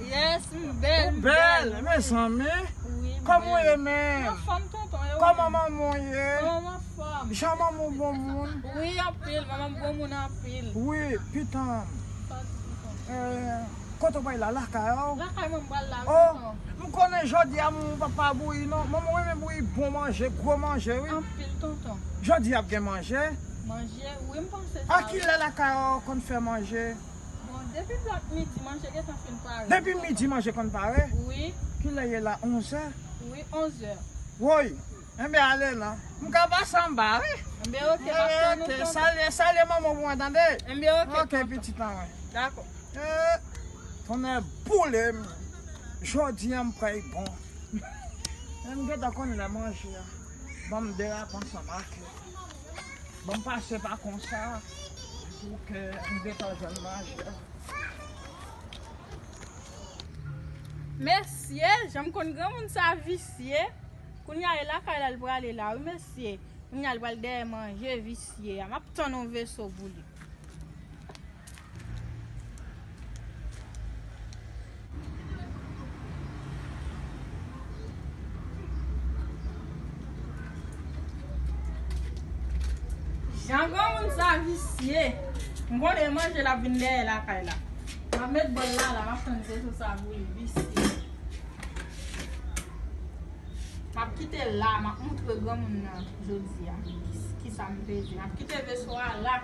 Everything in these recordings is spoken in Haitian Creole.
Yes m bel m bel wi. Ou bel mezanmi. Wi m bel. Koman ou ye menm. M anfom tonton e ou menm. Koman manman w ye. Manman m anfom. Jan manman w bon moun. Wi anpil manman m bon moun anpil. Wi pitanm. Kote ou pral la lakay ou. Lakay mwen m pral la wi tonton. Oh m konnen jodi a manman w pap pa bouyi non. Manman w renmen bouyi bon manje gwo manje wi. Anpil tonton. Jodi a ap gen manje. Manje wi m panse sa wi. A kilè lakay ou konn fè manje. Bon depi plat midi manje gentan fin pare. Depi midi manje konn pare? Wi. Kilè ye la 11 è? Wi 11 è. Woy! Enben ale lan. M ka pase anba wi? Enben ok map tann ou tonton. Enben ok salye manman w pou mwen tande? Enben ok tonton. Ok pitit lan mwen. Dakò. Eeh tonnè boule m jodi an m kwèy bon. M gentan konn lè manje a. Banm derape ansanm ak yo. Bon m pase pa konsa pou ke m detan jwenn manje. Mesye, jan m konn granmoun sa visye. Kounye a e lakay la li prale la wi mesye. Kounye a li pral dèyè manje visye a. M ap tann yon veso pou li. Jan granmoun sa visye. M konnen l manje l ap vin dèyè lakay la. M ap met bòl la la. M ap tann se sou sa pou li. Visye. M ap kite l la. M ap montre granmoun nan jodi a ki sa m te di. M ap kite veso a la.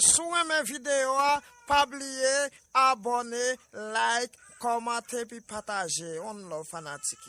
Si w renmen video a pa bliye abone like komante pi pataje one love fanatik yo.